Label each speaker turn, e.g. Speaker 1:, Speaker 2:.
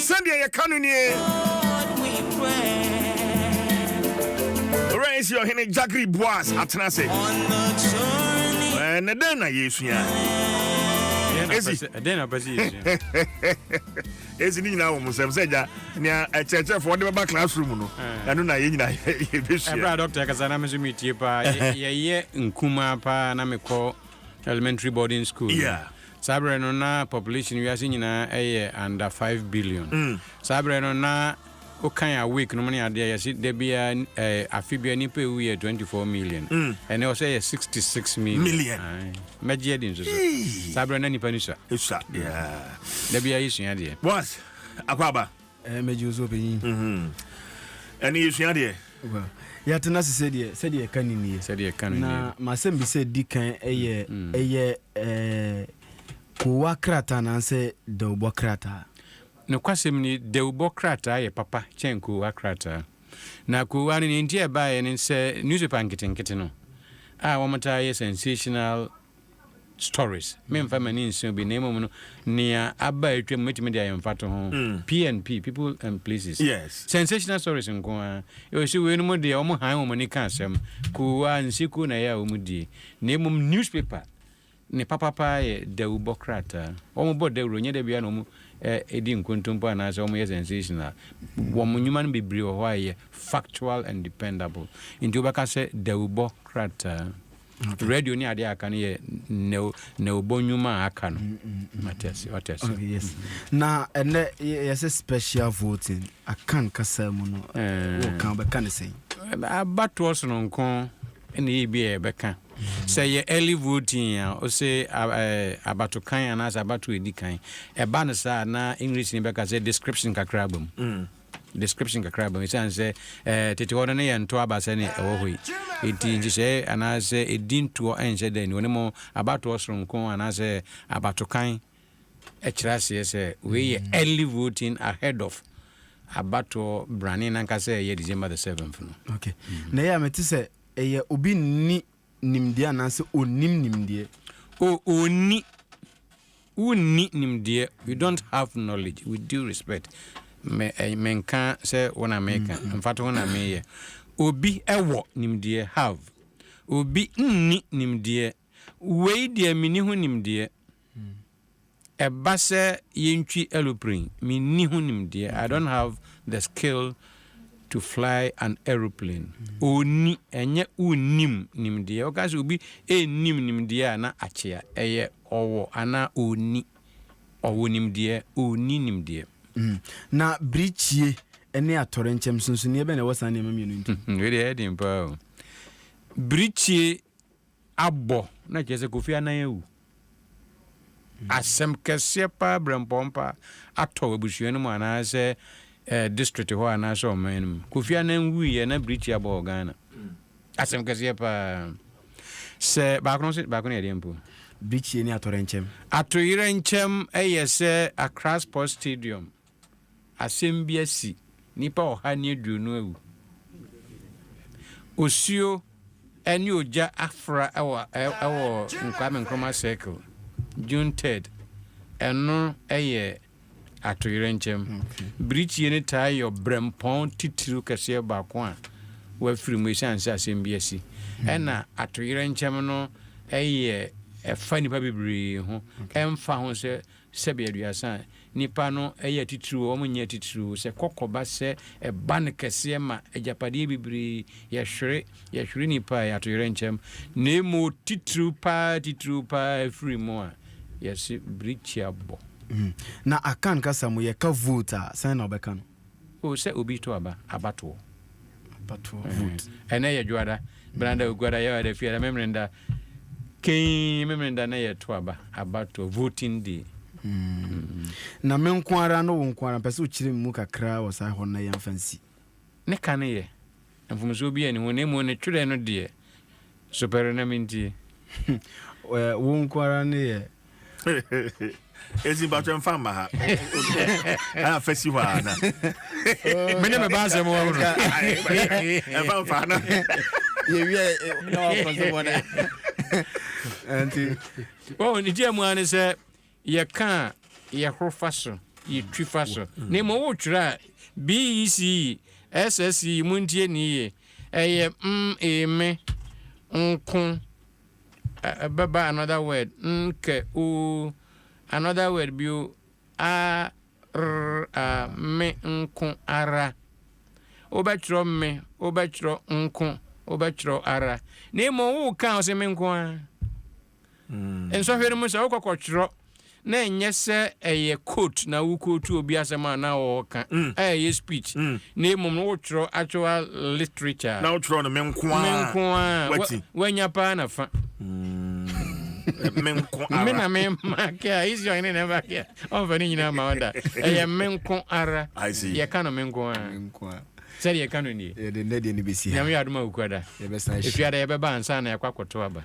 Speaker 1: Sɛdeɛ yɛka no nie. Owura Esi Ɔhene Jagri Boaz atena ase. Ɛnɛ dɛn na yɛsua? Esi.
Speaker 2: Ɛdɛn na pɛ sɛ
Speaker 1: yɛsua? Esi ne nyinaa wɔ mo nsɛm sɛ gya nea ɛkyerɛkyerɛfoɔ de bɛba classroom no ɛno na yɛn nyinaa yɛbɛsua. Ɛberɛ a dɔkta kasa na me nso
Speaker 2: metie paa. Yɛyɛ nkumaa paa na mekɔ elementary boarding school. Yeah. Saa berɛ no na population wiase nyinaa yɛ under five billion. Saa berɛ no na wokan awake nom ne adeɛ a yɛse da biara eh, afe biara nipa ɛwu yɛ twenty four million. Ɛnɛ ɔsɛ yɛ sixty six million. Million. Ae. Mɛgye adi nso so. Saa berɛ no na nipa no sua. Ɛsua, yeah. Da biara yɛsua adeɛ. Boaz
Speaker 1: Akwaaba, Ɛɛ mɛgye wo so
Speaker 3: ɔpanyin. Mm-hmm.
Speaker 1: Ɛne yɛsua deɛ. Well, yɛatena
Speaker 3: ase sɛdeɛ sɛdeɛ ɛka ne nie. Sɛdeɛ ɛka ne nie. Na masɛm bi sɛ di kan ɛyɛ mm-hmm. ɛyɛ ɛɛ kowa krataa anaasɛ dawubɔ krataa. Nokwasɛm
Speaker 2: ni dawubɔ krataa yɛ papa kyɛn kowa krataa. Na kowa no nea nti ɛbaeɛ ne sɛ newspaper nketenkete no a wɔtaa yɛ sensational stories, memfa m'ani nse obi, na mmom no, nea aba a atwam mɛtumi de ayɛ mfatoho, PNP, People and Places, sensational stories nko ara, ɛwɔ sɛ weinom deɛ wɔn han wɔn ani ka asɛm, koo a, nsekuo na ɛyɛ a wɔn die, na mmom newspaper ne papa paa yɛ dawubɔ krataa, wɔn bɔ dawuro, ɛnyɛ da biara na wɔn di nkontompo anaasɛ wɔn yɛ sensational, wɔn nnwuma no bebree wɔ hɔ a ɛyɛ factual and dependable, nti wobɛka sɛ dawubɔ krataa. radio ne adeɛ aka no yɛ nɛwobɔ nnwuma a aka no
Speaker 3: na ɛnɛ yɛsɛ special voting aka nkasa mu no wɔka wobɛka ne sɛn abatoɔ
Speaker 2: sononko ɛna yɛ bi a yɛbɛka sɛ yɛ early voting a ɔsɛ abato kan anaasɛ abato ɛdi kan ɛba no saa na english ne bɛka sɛ description kakra aba mu mm. Description kakra abam esiane sɛ tete hɔ no ne yɛn ntoɔ aba sɛnea ɛwɔ hɔ yi nti. Nhyehyɛe anaasɛ edin toɔ nhyɛ da nni hɔ, na mmom abatoɔ soronko anaasɛ abatokan kyerɛ aseɛ sɛ wei yɛ early voting ahead of abatoɔ brane no ankasa a ɛyɛ December the seventh no. Okay. Na ɛyɛ a mete
Speaker 3: sɛ ɛyɛ obi nni nimdeɛ anaasɛ ɔnnim nimdeɛ. O, ɔnni,
Speaker 2: wonni nimdeɛ, you don't have knowledge, with due respect, me, menka sɛ wo na meka, mfatoho na meyɛ. Obi wɔ nimdeɛ, have. Obi nni nimdeɛ, wei deɛ menni ho nimdeɛ. Ɛba sɛ yentwi aeroplane, minni ho nimdeɛ, I don't have the skill to fly an aeroplane. Onni, ɛnyɛ wonnim nimdeɛ. Woka sɛ obi nnim nimdeɛ a, na akyea. Ɛyɛ ɔwɔ anaa onni. Ɔwɔ nimdeɛ, onni nimdeɛ. Na
Speaker 3: bere kyie ne atɔrenkyɛm, nsonsonoeɛ bɛn na ɛwɔ saa nneɛma mmienu ntam? Wei deɛ ɛyɛ den paa
Speaker 2: o. Bere kyie abɔ na kyerɛ sɛ Kofi Annan awu. Asɛm kɛseɛ paa brɛmpɔn paa atɔ abusua no mu anaasɛ district hɔ anaasɛ ɔman no mu. Kofi Annan wuiɛ na birikyi abɔ wɔ Ghana. Asɛm kɛseɛ paa. Sɛ baako no nso baako no yɛ deɛ mpo. Birikyie ne
Speaker 3: atoyerɛnkyɛm. Atoyerɛnkyɛm
Speaker 2: yɛ sɛ Accra Sports Stadium. Asɛm bi asi, nnipa ɔha ne aduonu awu. Osuo ne ogya afra wɔ Kwame Nkrumah Circle, June third. Ɛno yɛ atoyerɛnkyɛm. Birikyie no taa yɛ ɔbrɛmpɔn titiriw kɛseɛ baako a wɔafiri mu esiane sɛ asɛm bi asi. Ɛna atoyerɛnkyɛm no yɛ ɛfa nnipa bebree ho ɛmfa ho sɛ Sɛbe aduasa a, nnipa no yɛ atitiriw o, wɔnyɛ atitiriw o, sɛ kɔkɔ ba sɛ ɛba no kɛseɛ ma agyapadeɛ bebree, yɛhwere, yɛhwere nnipa a, atoyerɛnkyɛm, na mmom titiriw pa ara, titiriw pa ara ɛfiri mu a, yɛse birikyia bɔ. Na
Speaker 3: Akan kasa mu, yɛka vote a, sɛn na wɔbɛka no? O sɛ obi to
Speaker 2: aba, abatoɔ. Abatoɔ
Speaker 3: vote. Ɛnɛ yɛ
Speaker 2: dwoada, benada, oguada, yɛwada, fiada, memeneda, kei memeneda na yɛ to aba, abatoɔ, voting day. Mm.
Speaker 3: Na me nko ara no wo nko ara mpɛ sɛ wokyerɛ me mu kakra wɔ saa hɔ no na yɛmfa nsi. Ne ka no
Speaker 2: yɛ. Mfomsoɔ biaa nni ho na mmom ne twerɛ no deɛ so pɛrɛ na mentie. Wo nko ara
Speaker 3: ne yɛ.
Speaker 1: Ezi mpatsɔ nfa mma ha ɛna fɛ si hɔ a na. mi ne
Speaker 2: mi ba asɛm wɔ hunu.
Speaker 1: ɛfa nfa na. yɛwiɛ
Speaker 3: na wakɔ so bɔ dɛ.
Speaker 2: nti. wɔn ne tiɛ mu ara ne sɛ Yɛka a, yɛhoro fa so, yetwi fa so. Na mmom wotwerɛ a, BECE, SSE, montie no yiye, ɛyɛ mm, ee, me, nko, ɛ, bɛba another word, n, kɛ, o, another word bio, a, r, a, me, nko, ara. Wobɛtwerɛ me, wobɛtwerɛ nko, wobɛtwerɛ ara. Na mmom woka a, wose me nko ara. Nsɔhwɛ no mu sɛ wokɔ kɔtwerɛ na ɛnyɛ sɛ ɛyɛ quote na wo quote obi asɛm a na ɔɔka a ɛyɛ speech na mmom no wotwerɛ actual literature na wotwerɛ no me nko
Speaker 1: ara me nko ara wanya paa
Speaker 2: na fa
Speaker 1: me nko ara me na me ma kɛ
Speaker 2: a isi ɔhene na ɛba kɛ a ɔmfa ne nyinaa ma ɔda ɛyɛ me nko ara yɛka no me nko ara sɛdeɛ yɛka no nie yɛde nnɛ deɛ no bɛsi ha nyame yɛ adoma wokuada ɛfiada yɛbɛba ansa na yɛkɔ akɔto aba